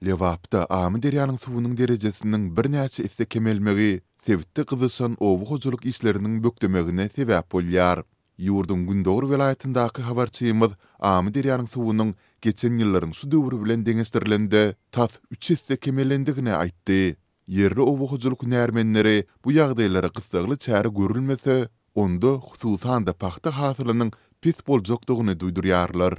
Lebapda Amyderýanyň suwunyň derejesiniň birnäçe esse kemelmegi sebitde gyzyşan oba hojalyk işleriniň bökdemegine sebäp bolýar. Ýurduň gündogar welaýatyndaky habarçymyz Amyderýanyň suwunyň geçen ýyllaryň şu döwri bilen deňeşdirilende tas üç esse kemelendigini aýtdy. Ýerli oba hojalyk hünärmenleri bu ýagdaýlara gyssagly çäre görülmese, onda, hususan-da, pagta hasylynyň pes boljakdygyny duýdurýarlar.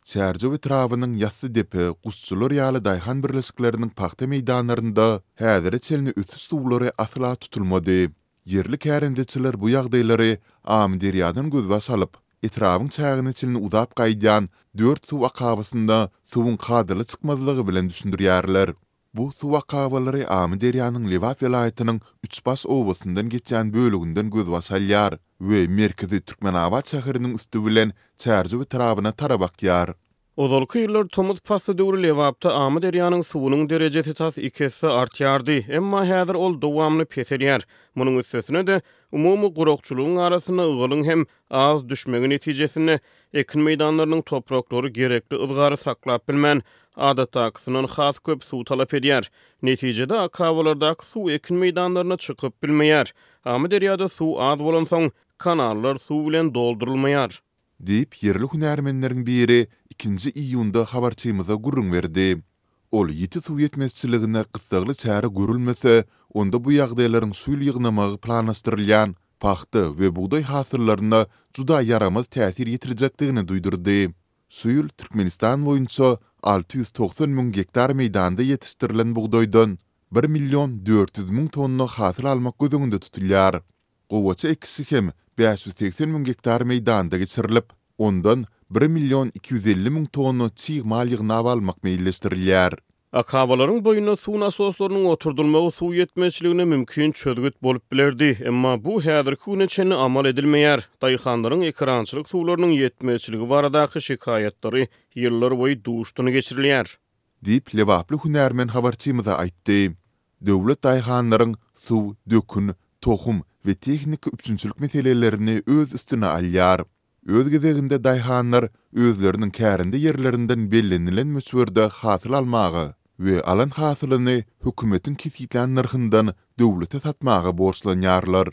Çärjew etrabynyň Ýassydepe, Guşçular ýaly daýhan birleşikleriniň pagta meýdanlarynda häzire çenli ösüş suwlary asla tutulmady. Ýerli kärendeçiler bu ýagdaýlary Amyderýadan gözbaş alyp, etrabyň çägine çenli uzap gaýdýan dört suw akabasynda suwuň kadaly çykmazlygy bilen düşündirýärler. Bu suw akabalary Amyderýanyň Lebap welaýatynyň Üçbaş obasyndan geçýän böleginden gözbaş alýar we merkezi Türkmenabat şäheriniň üsti bilen Çärjew etrabyna tarap akýar. Ozalky ýyllar tomus pasly döwri Lebapda Amyderýanyň suwunyň derejesi tas iki esse artýardy, emma häzir ol dowamly peselýär. Munuň üstesine-de, umumy gurakçylygyň arasynda ygalyň hem az düşmegi netijesinde, ekin meýdanlarynyň topraklary gerekli yzgary saklap bilmän, adatdakysyndan has köp suw talap edýär. Netijede, akabalardaky suw ekin meýdanlaryna çykyp bilmeýär. Amyderýada suw az bolansoň, kanallar suw bilen doldurylmaýar. Diýip, ýerli hünärmenleriň biri ikinji iýunda habarçymyza gürrüň berdi. Ol ýiti suw ýetmezçiligine gyssagly çäre görülmese, onda bu ýagdaýlaryň şu ýyl ýygnamagy planlaşdyrylýan pagta we bugdaý hasyllaryna juda ýaramaz täsir ýetirjekdigini duýdurdy. Şu ýyl Türkmenistan boýunça alty ýüz togsan müň gektar meýdanda ýetişdirilen bugdaýdan bir million dört ýüz müň tonna hasyl almak göz öňünde tutulýar. Gowaça ekişi hem bäş ýüz segsen müň gektar meýdanda geçirilip, ondan bir million iki ýüz elli müň tonna çig mal ýygnap almak meýilleşdirilýär. Akabalaryň boýuna suw nasoslarynyň oturdylmagy suw ýetmezçiligine mümkin çözgüt bolup bilerdi, emma bu häzirki güne çenli amal edilmeýär. Daýhanlaryň ekerançylyk suwlarynyň ýetmezçiligi baradaky şikaýatlary ýyllarboýy duşdan geçirilýär. Diýip, lebaply hünärmen habarçymyza aýtdy. Döwlet daýhanlaryň suw, dökün, tohum we tehniki üpjünçilik meselelerini öz üstüne alýar. Öz gezeginde daýhanlar özleriniň kärende ýerlerinden bellenilen möçberde hasyl almaga we alan hasylyny hökümetiň kesgitlän nyrhyndan döwlete satmaga borçlanýarlar.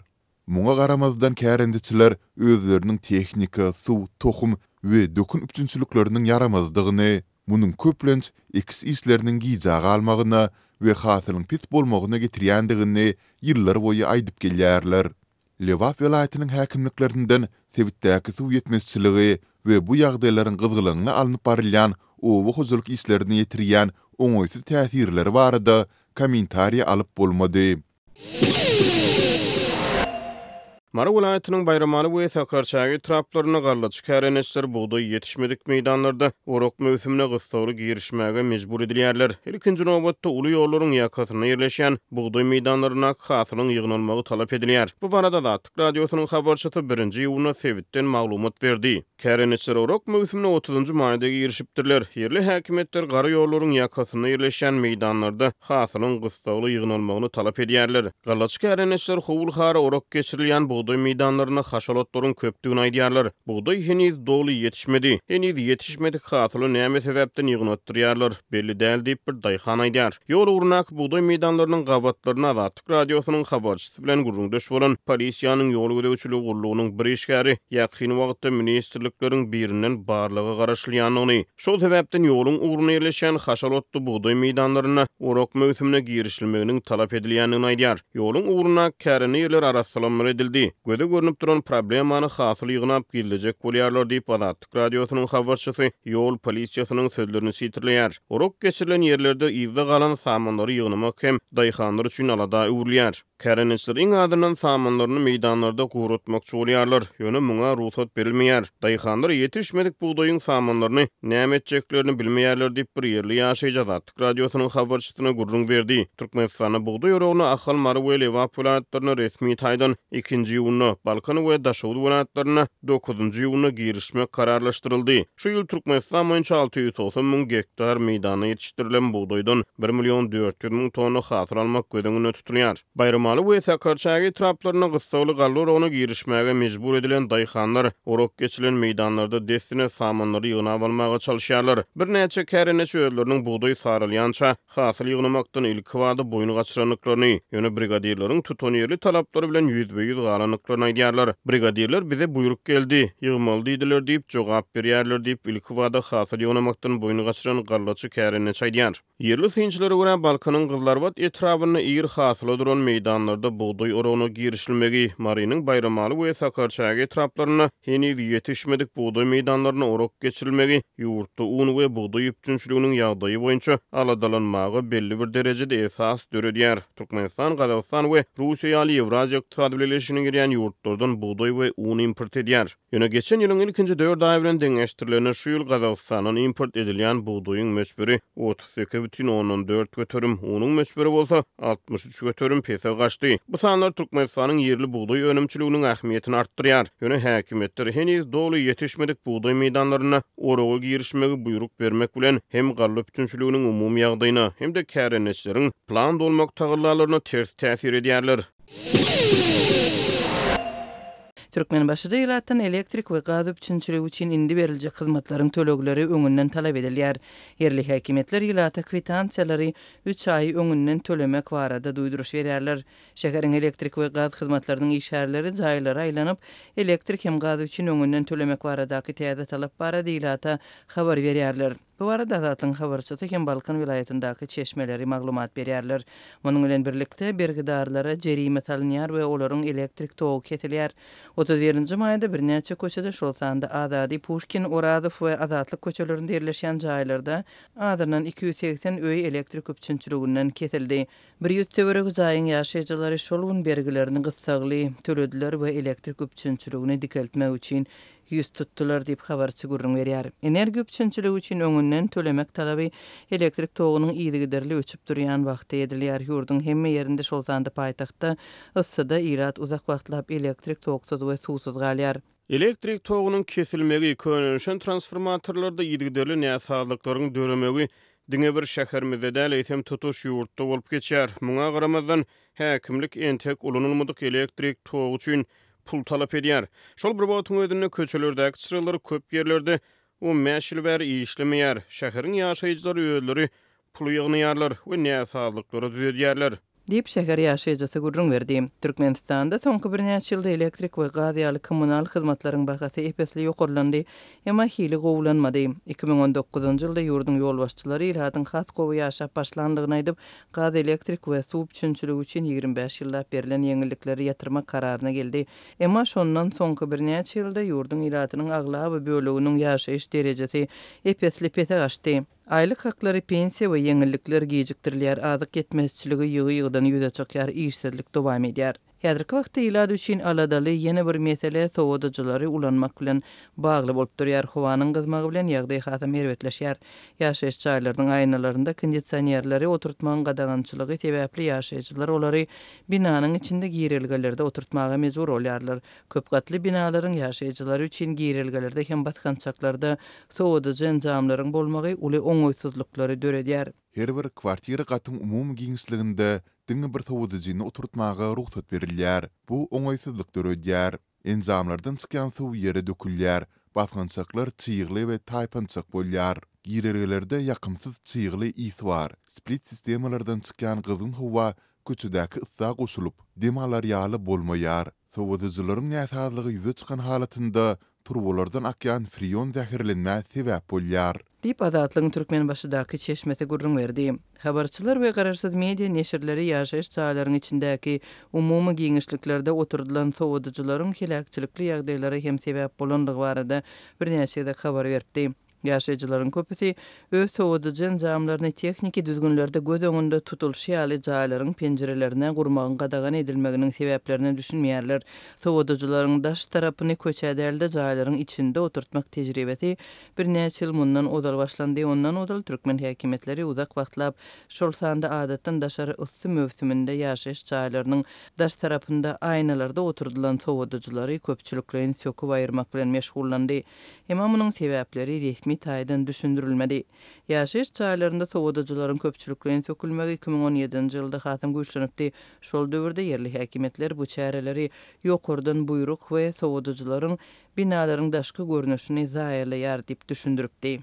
Muňa garamazdan kärendeçiler özleriniň tehnika, suw, tohum we dökün üpjünçilikleriniň ýaramazdygyny, munuň köplenç ekiş işleriniň gijä galmagyna we hasylyň pes bolmagyna getirýändigini ýyllarboýy aýdyp gelýärler. Lebap welaýatynyň häkimliklerinden sebitdäki suw ýetmezçiligi we bu ýagdaýlaryň gyzgalaňly alnyp barylýan oba hojalyk işlerine ýetirýän oňaýsyz täsirleri barada kommentariýa alyp bolmady. Mary welaýatynyň Baýramaly we Sakarçäge etraplarynda gallaçy kärendeçiler bugdaý ýetişmedik meýdanlarda orak möwsümine gyssagly girişmäge mejbur edilýärler. Ilkinji nobatda, uly ýollaryň ýakasynda ýerleşýän bugdaý meýdanlaryndaky hasylyň ýygnalmagy talap edilýär. Bu barada Azatlyk Radiosynyň habarçysy birinji iýunda sebitden maglumat berdi. Kärendeçiler orak möwsümine otuzynjy maýda girişipdirler. Ýerli häkimiýetler gara ýollaryň ýakasynda ýerleşýän meýdanlarda hasylyň gyssagly ýygnalmagyny talap edýärler. Gallaçy kärendeçiler howul-hara orak geçirilýän bugdaý meýdanlarynda haşalatlaryň köpdügini aýdýarlar. Bugdaý heniz doly ýetişmedi. Heniz ýetişmedik hasyly näme sebäpden ýygnatdyrýarlar, belli däl diýip, bir daýhan aýdýar. Ýol ugrundaky bugdaý meýdanlarynyň gabatlaryny azat. azatlyk radiosynyň habarçysy bilen gürrüňdeş bolan polisiýanyň ýol gözegçiligi gullugynyň bir işgäri ýakyn wagtda ministrlikleriň birinden barlaga garaşylýandygyny, şol sebäpden ýoluň ugruna ýerleşýän haşal otly bugdaý meýdanlarynda orak möwsümine girişilmeginiň talap edilýändigini aýdýar. Ýoluň ugruna kärende ýerler arassalanmaly edildi. Göze görnüp duran problemany hasyl ýygnap gizlejek bolýarlar diýip, Azatlyk. Radiosynyň habarçysy ýol polisiýasynyň sözlerini sitirleýär. Urak geçirilen ýerlerde yzda galan samanlary ýygnamak hem daýhanlar üçin alada öwrülýär. Kärendeçiler iň azyndan samanlaryny meýdanlarda guratmakçy bolýarlar, ýöne muňa rugsat berilmeýär. Daýhanlar ýetişmedik bugdaýyň samanlaryny näme etjeklerini bilmeýärler diýip, bir ýerli ýaşaýjy Azatlyk Radiosynyň habarçysyna gürrüň berdi. Türkmenistanda bugdaý oragyny Ahal, Mary we Lebap welaýatlarynda resmi taýdan ikinji iýunda, Balkan we Daşoguz welaýatlarynda dokuzynjy iýunda girişmek kararlaşdyryldy. Şu ýyl Türkmenistan boýunça alty ýüz togsan müň gektar meýdanda ýetişdirilen bugdaýdan bir million dört ýüz müň tonna hasyl almak göz öňünde tutulýar. Baýramaly we Sakarçäge etraplarynda gyssagly galla oragyna girişmäge mejbur edilen daýhanlar orak geçilen meýdanlarda dessine samanlary ýygnap almaga çalyşýarlar. Birnäçe kärendeçi özleriniň bugdaý saralýança hasyl ýygnamakdan ilkibada boýun gaçyrandyklaryny, ýöne brigadirleriň tutanýerli talaplary bilen ýüzbe-ýüz galandyklaryny aýdýarlar. Brigadirler bize buýruk geldi, ýygmaly diýdiler diýip jogap berýärler diýip, ilkibada hasyl ýygnamakdan boýun gaçyran gallaçy kärendeçi aýdýar. Ýerli synçylara görä, Balkanyň gyzlarbat etrabynda ir hasyla duran meýdanlarda bugdaý oragyna girişilmegi, Marynyň Baýramaly we Sakarçäge etraplarynda heniz ýetişmedik bugdaý meýdanlaryna orak geçirilmegi ýurtda un we bugdaý üpjünçiliginiň ýagdaýy boýunça aladalanmaga belli bir derejede esas döredýär. Türkmenistan, Gazagystan we Russiýa ýaly Ýewraziýa Ykdysady Bileleşigine girýän ýurtlardan bugdaý we un import edýär. Ýöne geçen ýylyň ilkinji dört aýy bilen deňeşdirilende şu ýyl Gazagystandan import edilýän bugdaýyň möçberi otuz sekiz bütin ondan dört göterim, unuň möçberi bolsa altmyş üç göterim pese gaçdy. Bu sanlar Türkmenistanyň ýerli bugdaý önümçiliginiň ähmiýetini artdyrýar. Ýöne häkimiýetler heniz doly ýetişmedik bugdaý meýdanlarynda oraga girişmegi buýruk bermek bilen, hem galla üpjünçiliginiň umumy ýagdaýyna, hem-de kärendeçileriň plan dolmak tagallalaryna ters täsir edýärler. Türkmenbaşyda ilatdan elektrik we gaz üpjünçiligi üçin indi beriljek hyzmatlaryň tölegleri öňünden talap edilýär. Ýerli häkimiýetler ilata kwitansiýalary üç aý öňünden tölemek barada duýduryş berýärler. Şäheriň elektrik we gaz hyzmatlarynyň işgärleri jaýlara aýlanyp, elektrik hem gaz üçin öňünden tölemek baradaky täze talap barada ilata habar berýärler. Bu barada Azatyň habarçysy hem Balkan welaýatyndaky çeşmeleri maglumat berýärler. Munuň bilen birlikde, bergidarlara jerime salynýar we olaryň elektrik togy kesilýär. Otuz birinji maýda birnäçe köçede, şol sanda Azady, Puşkin, Orazow we Azatlyk köçelerinde ýerleşýän jaýlarda azyndan iki ýüz segsen öý elektrik üpjünçiliginden kesildi. Bir ýüz töweregi jaýyň ýaşaýjylary şol gün bergilerini gyssagly tölediler we elektrik üpjünçiligini dikeltmek üçin ýüz tutdular diýip, habarçy gürrüň berýär. Energiýa üpjünçiligi üçin öňünden tölemek talaby elektrik togunyň yzygiderli öçüp durýan wagty edilýär. Ýurduň hemme ýerinde, şol sanda paýtagtda, yssyda ilat uzak wagtlap elektrik toksuz we suwsuz galýar. Elektrik togunyň kesilmegi, könelişen transformatorlarda yzygiderli näsazlyklaryň döremegi diňe bir şäherimizde däl, eýsem, tutuş ýurtda bolup geçýär. Muňa garamazdan, häkimlik entek ulanylmadyk elektrik togy üçin pul talap edýär. Şol bir wagtyň özünde köçelerdäki çyralar köp ýerlerde on bäş ýyl bäri işlemeýär. Şäheriň ýaşaýjylary özleri pul ýygnaýarlar we näsazlyklary düzedýärler. Diýip, şäher ýaşaýjysy gürrüň berdi. Türkmenistanda soňky birnäçe ýylda elektrik we gaz ýaly kommunal hyzmatlaryň bahasy ep-esli ýokarlandy, emma hili gowulanmady. Iki müň on dokuzynjy ýylda ýurduň ýolbaşçylary ilatyň has gowy ýaşap başlandygyny aýdyp, gaz, elektrik we suw üpjünçiligi üçin ýigrimi bäş ýyllap berlen ýeňillikleri ýatyrmak kararyna geldi. Emma şondan soňky birnäçe ýylda ýurduň ilatynyň aglaba böleginiň ýaşaýyş derejesi ep-esli pese gaçdy. Aýlyk haklary, pensiýa we ýeňillikler gijikdirilýär, azyk ýetmezçiligi ýygy-ýygydan ýüze çykýar, işsizlik dowam edýär. Häzirki wagtda ilat üçin aladaly ýene bir mesele sowadyjylary ulanmak bilen bagly bolup durýar. Howanyň gyzmagy bilen ýagdaý hasam erbetleşýär. Ýaşaýyş jaýlarynyň aýnalarynda kondisionerleri oturtmagyň gadagançylygy sebäpli ýaşaýjylar olary binanyň içinde girelgelerde oturtmaga mejbur bolýarlar. Köp gatly binalaryň ýaşaýjylary üçin girelgelerde hem basgançaklarda sowadyjy enjamlaryň bolmagy uly oňaýsyzlyklary döredýär. Her bir kwartira gatyň umumy giňişliginde diňe bir sowadyjyny oturtmaga rugsat berilýär. Bu oňaýsyzlyk döredýär. Enjamlardan çykýan suw ýere dökülýär, basgançaklar çygly we taýpançak bolýar. Girelgelerde ýakymsyz çygly ys bar, split sistemalardan çykýan gyzgyn howa köçedäki ysa goşulyp, dem alar ýaly bolmaýar. Sowadyjylaryň näsazlygy ýüze çykan halatynda Turbalardan akýan freon zäherlenmä sebäp bolýar. Diýip, Azatlygyň Türkmenbaşydaky çeşmesi gürrüň berdi. Habarçylar we garaşsyz media neşirleri ýaşaýyş jaýlaryň içindäki umumy giňişliklerde oturdylan sowadyjylaryň heläkçilikli ýagdaýlara hem sebäp bolandygy barada birnäçe gezek habar beripdi. Ýaşaýjylaryň köpüsi öz sowadyjy enjamlaryny tehniki düzgünlerde göz öňünde tutulyşy ýaly jaýlaryň penjirelerine gurmagyň gadagan edilmeginiň sebäplerine düşünmeýärler. Sowadyjylaryň daş tarapyny köçä däl-de, jaýlaryň içinde oturtmak tejribesi birnäçe ýyl mundan ozal başlandy. Ondan ozal türkmen häkimiýetleri uzak wagtlap, şol sanda adatdan daşary yssy möwsüminde ýaşaýyş jaýlarynyň daş tarapynda aýnalarda oturdylan sowadyjylary köpçülikleýin söküp aýyrmak bilen meşgullandy. Emma munuň sebäpleri resmi taýdan düşündirilmedi. Ýaşaýyş jaýlarynda sowadyjylaryň köpçülikleýin sökülmegi iki müň on ýedinji ýylda hasam güýçlenipdi. Şol döwürde ýerli häkimiýetler bu çäreleri ýokardan buýruk we sowadyjylaryň binalaryň daşky görnüşini zaýalaýar diýip düşündiripdi.